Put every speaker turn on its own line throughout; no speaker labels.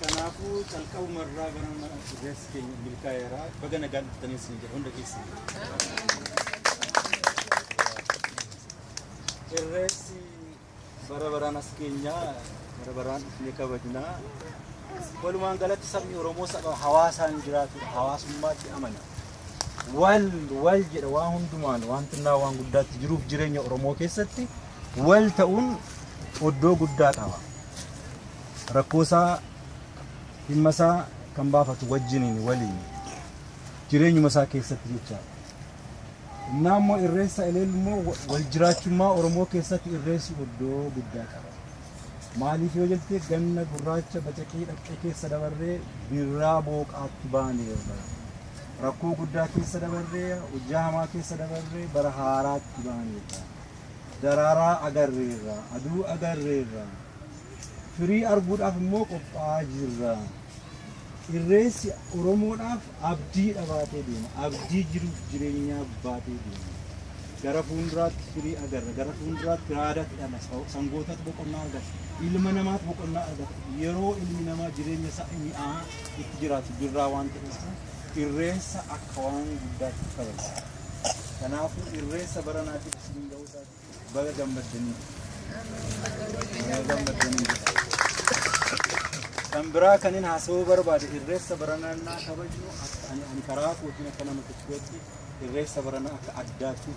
Kanaafuu calqabuma irraa gara rifeensi keenya milkaa'eera. Baga nagaan dhuftanii isin jedha hunda keessan. Irreessi bara baraan as keenya bara baraan dhufnee kabajna. Walumaan galatti sabni Oromoo saba hawaasaan jiraatudha. Hawaasummaatti amana. Wal wal jedha waan hundumaan waan xinnaa waan guddaatti jiruuf jireenya Oromoo keessatti wal ta'uun oddoo guddaa qaba. rakkoosaa dhimmasaa kan baafatu wajjiniin waliin jireenyuma isaa keessatti jecha innaa immoo irreessa eleel immoo wal jiraachummaa oromoo keessatti irreessi iddoo guddaa qaba maaliif yoo jettee ganna gurraacha bacaqii dhaqqee keessa dabarree birraa booqaatti baaneerra rakkoo guddaa keessa dabarree hojjaa hamaa keessa dabarree bara haaraatti baaneerra daraaraa agarreerra aduu agarreerra Firii arguudhaaf immoo qophaa'aa jirra. Irreessi Oromoodhaaf abdiidha baatee deema. Abdii jiruuf jireenyaa baatee deema. Gara fuulduraatti firii agarra. Gara fuulduraatti raadatu dhala. Sa- Sangootatu boqonnaa argata. Ilma namaatu boqonnaa argata. Yeroo ilmi namaa jireenya isaa mi'aa itti jiraatu jirraa waan ta'eef irreessa akka waan guddaatti kabajna. Kanaafuu irreessa baranaatiif isin ga'uu isaa Baga gammaddanii. Kan biraa kan hin haasawuu barbaade irreessa baranannaa kabajnu akka ani ani karaa kootiin akka nama tokkootti irreessa barana akka addaatti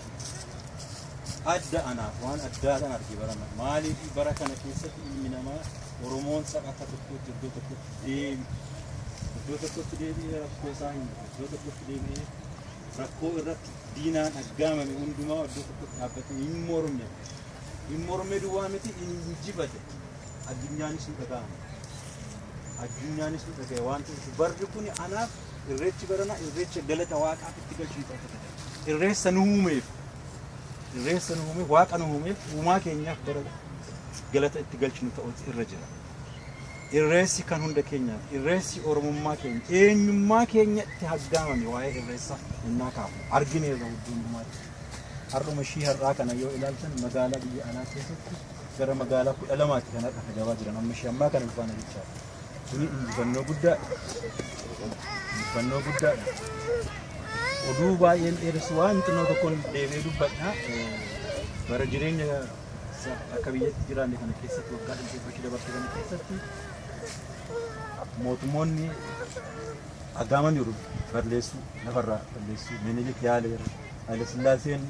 adda anaaf waan addaadhaan arge barana maaliif bara kana keessatti ilmi namaa Oromoon saba akka tokkootti iddoo tokkotti deemi iddoo tokkotti deebi'ee rakkoo isaa hin iddoo tokkotti deebi'ee rakkoo irratti diinaan aggaamame hundumaa iddoo tokkotti dhaabbatee hin morme. Hin morme duwwaa miti hin injifate. Addunyaanis nu dhaga'ame. Addunyaanis nu dhaga'e waan ta'eef barri kun anaaf irreechi baranaa irreecha galata waaqaaf itti galchuu qaba. Irreessa nu uumeef irreessa nu uumeef waaqa nu uumeef uumaa keenyaaf bara galata itti galchinu ta'uutu irra jira. Irreessi kan hunda keenyaati. Irreessi Oromummaa keenya, eenyummaa keenya itti haggaamame waa'ee Irreessa innaa kaafnu argineerra hudduu hundumaatti. Har'uma ishii har'aa kana yoo ilaaltan magaalaa biyya alaa keessatti gara magaalaa kudha lamaatti kan har'a gabaa jiran amma ishii ammaa kana dhufaana jechaadha. Kuni injifannoo guddaadha. Injifannoo guddaadha. Oduu baay'een dheeressu waan xinnoo tokkoon deebi'ee dubbadha. Eh, Bara jireenya Isa akka biyyatti jiraanne kana keessatti waggaa dhibbeeffachuu dabarse kana keessatti mootummoonni agaaman jiru balleessuu lafarraa balleessuu minilik yaaleera haile sillaaseen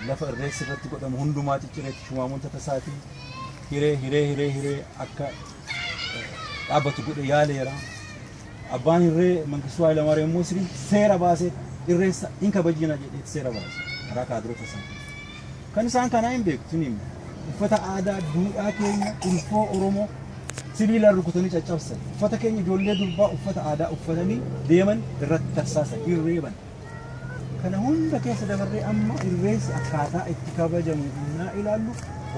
lafa irreessi irratti godhamu hundumaa ciccireetti shumaamuun tatasaatii hiree hiree hiree hiree akka dhaabbatu godhe yaaleera abbaan hirree mangistuu haayilamaaram immoo seera baasee irreessa hin kabajina jedhee seera baase karaa kaadirota isaa Kan isaan kanaa hin beeku isin hima. Uffata aadaa duudhaa keenya ulfoo Oromoo sibiilaan rukutanii caccabsan. Uffata keenya ijoollee durbaa uffata aadaa uffatanii deeman irratti tarsaasan, hin reeban. Kana hunda keessa dabarree amma irreessi akkaataa itti kabajamu innaa ilaallu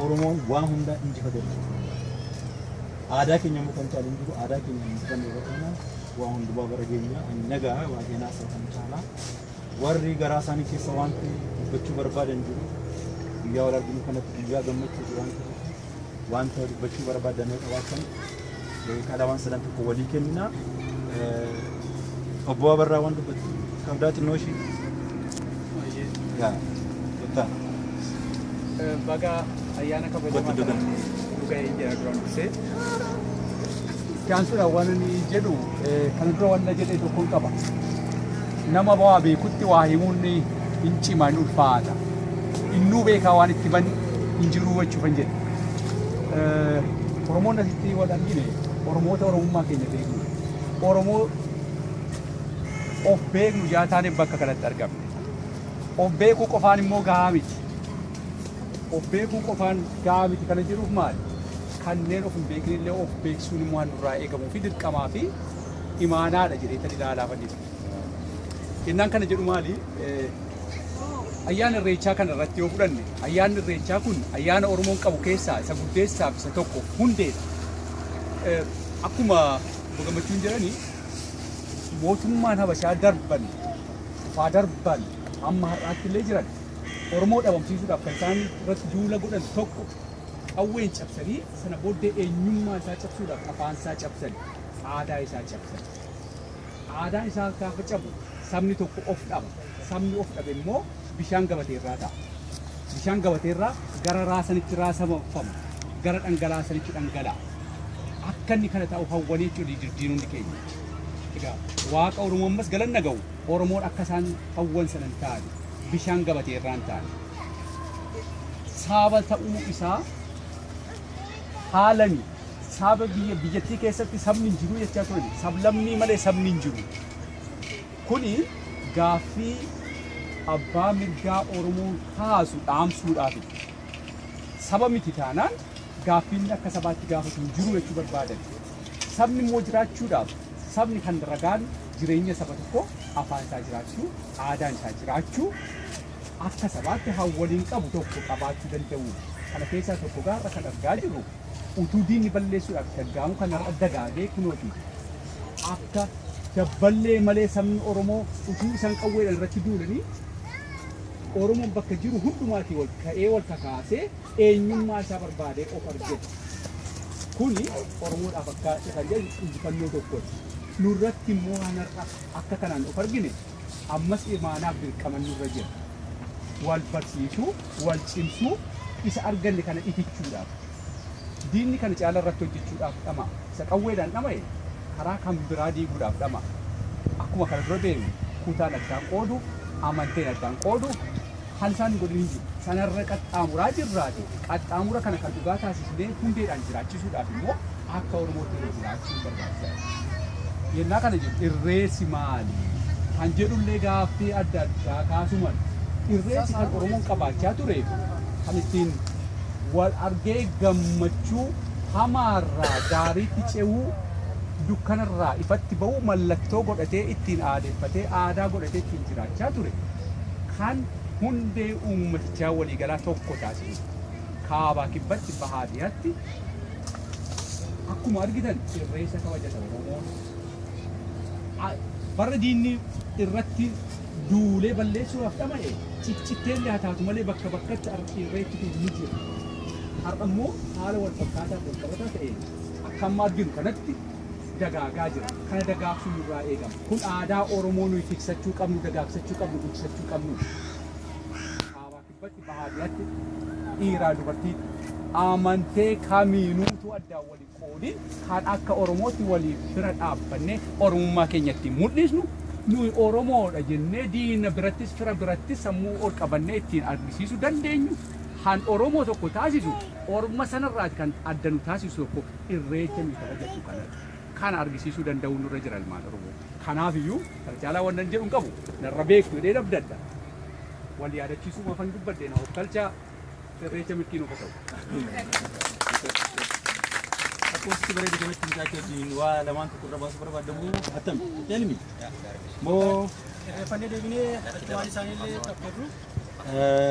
Oromoon waa hundaa injifate aadaa keenya immoo kan caalu hin jiru aadaa keenya injifanne irratti immoo waa hundumaa bara geenyaa ani nagaa waa keenaas kan caalaa Warri garaa isaanii keessa wanti dubbachuu barbaadan jiru. Guyyaa wal arginu kanatti guyyaa gammachuuti waan ta'eef wanta dubbachuu barbaadan yoo qabaatan kadhaa waan sadan tokko walii kennina. Eh, Obbo Abarraa waan dubbatu qabdaa xinnoo ishii. Yaa, kottaa.
baga ayyaana kabajamaa Dubbadhu, kana dubbadhu. nu ga'ee jira duraan dursee. Itti aansuudhaan waan ani jedhu eh, kana dura waan na jedhe tokkoon qaba. Nama waa beekutti waa himuun hin cima hin ulfaata. Innuu beekaa waan itti ban hin jiruu jechuu kan jedhe. Oromoon asitti wal argine Oromoota Oromummaa keenya beeknu. Oromoo of beeknu jaa taane bakka kanatti argamne. Of beekuu qofaan immoo gahaa miti. Of beekuu qofaan gahaa miti kana jedhuuf maali? Kanneen of hin beekne illee of beeksisuun immoo waan nurraa eegamuu fi dirqamaa fi imaanaadha jedheetan ilaalaa fannise. Kennaan kana jedhu maali? Ayyaana irreechaa kana irratti yoo fudhanne ayyaanni irreechaa kun ayyaana Oromoon qabu keessaa isa guddeessaaf isa tokko hundeedha. Akkuma obbo Gammachuun jedhanii mootummaan Habashaa darban kufaa darban amma har'aatti illee jiran Oromoo dhabamsiisuudhaaf kan isaan irratti duula godhan tokko qawween cabsanii sana booddee eenyummaa isaa cabsuudhaaf afaan isaa cabsanii aadaa isaa cabsa jedhe. Aadaan isaa gaafa cabu sabni tokko of dhaba. Sabni of dhabe immoo bishaan gabatee irraa ta'a. Bishaan gabatee irraa gara raasanitti raasamafama. Gara dhangalaasanitti dhangala'a. Akka inni kana ta'u hawwanii jechuudha didirdiinonni keenya. Egaa waaqa Oromoo ammas galanna ga'u Oromoon akka isaan hawwan sana hin taane bishaan gabatee irraa hin taane. Saaba ta'uu isaa haalani Saaba biyya biyyattii keessatti sabni hin jiru jechaa turan. Sablammii malee sabni hin jiru. Kuni gaaffii abbaa mirgaa Oromoon kaasu dhaamsuudhaafi. Saba miti taanaan gaaffiin akka sabaatti gaafatu hin jiru jechuu barbaadan. Sabni immoo jiraachuudhaaf sabni kan ragaan jireenya saba tokko afaan isaa jiraachuu, aadaan isaa jiraachuu akka sabaatti hawwaniin qabu tokko qabaachuu danda'u. Kana keessaa tokko gaarra kan argaa jirru Utuu diinni balleessuudhaaf itti aggaamuu kan har'a dagaagee kunooti akka dabballee malee sabni Oromoo utuu isaan qawweedhaan irratti duulanii Oromoon bakka jiru hundumaatii wal ka'ee wal kakaasee eenyummaa isaa barbaadee of argedha. Kuni Oromoodhaaf akka isa kan jedhu injifannoo tokkodha. Nurratti immoo waan har'a akka kanaan of argine Ammas imaanaaf dirqaman nurra jira. Wal barsiisuu, wal cimsuu, isa arganne kana itichuudhaaf. Diinni kana caala irratti hojjechuudhaaf dhama'a. Isa qawweedhaan dhama'e karaa kan biraa diiguudhaaf dhama'a. Akkuma kana dura beeknu kutaan addaan qoodu, amanteen addaan qoodu, Kan isaan hin godhin hin jiru. Sanarra qaxxaamuraa jirraati. Qaxxaamura kana kan dhugaa taasisnee hundeedhaan jiraachisuudhaaf immoo akka Oromootti irra jiraachuun barbaachisaadha. Yennaa kana jedhu irreessi maali? Kan jedhullee gaaffii adda addaa kaasuu mala. Irreessi kan Oromoon qabaachaa ture kan ittiin wal argee gammachuu hamaarraa gaariitti ce'uu dukkanarraa ifatti ba'uu mallattoo godhatee ittiin aadeffatee aadaa godhatee ittiin jiraachaa ture. kan hundee uummatichaa waliigalaa tokko taasisu kaabaa kibbatti bahaa dhiyatti akkuma argitan irreessa kabajata Oromoon barra diinni irratti duulee balleessuudhaaf dhama'e ciccittee illee haa taatu malee bakka bakkatti irreetti kun ni jira. Har'a immoo haala wal fakkaataa wal qabataa ta'een akka amma arginu kanatti dagaagaa jira. Kana dagaagsuun nurraa eegama. Kun aadaa Oromoo nuyi tiksachuu qabnu, dagaagsachuu qabnu, guddisachuu qabnudha. Kaabaa Kibbatti, Bahaa Dhihatti, dhiiraa dubartiin amantee kamiinuutuu addaan wal hin qoodin kan akka Oromootti waliif bira dhaabbannee Oromummaa keenya ittiin mul'isnu nuyi Oromoodha jennee diina birattis fira birattis sammuu ol qabannee ittiin argisiisuu dandeenyu kan Oromoo tokko taasisu orma sanarraati kan adda nu taasisu tokko Irreecha nuyi kabajadhu kana kana argisiisuu danda'uu nurra jira ilmaan Oromoo. Kanaaf iyyuu kana caalaa wannan jedhu hin qabu. Narra beektu jedhee nabdadha. Wal yaadachiisuu mafan dubbadhe na hofkalchaa irreecha milkii nuuf haa ta'u.
Akkuma bareedu kanatti mucaa kee wajjin waa lamaan tokko irra baasuu barbaadamu attam elmi moo
Irreeffannee deebinee
waan
isaaniillee taphattu.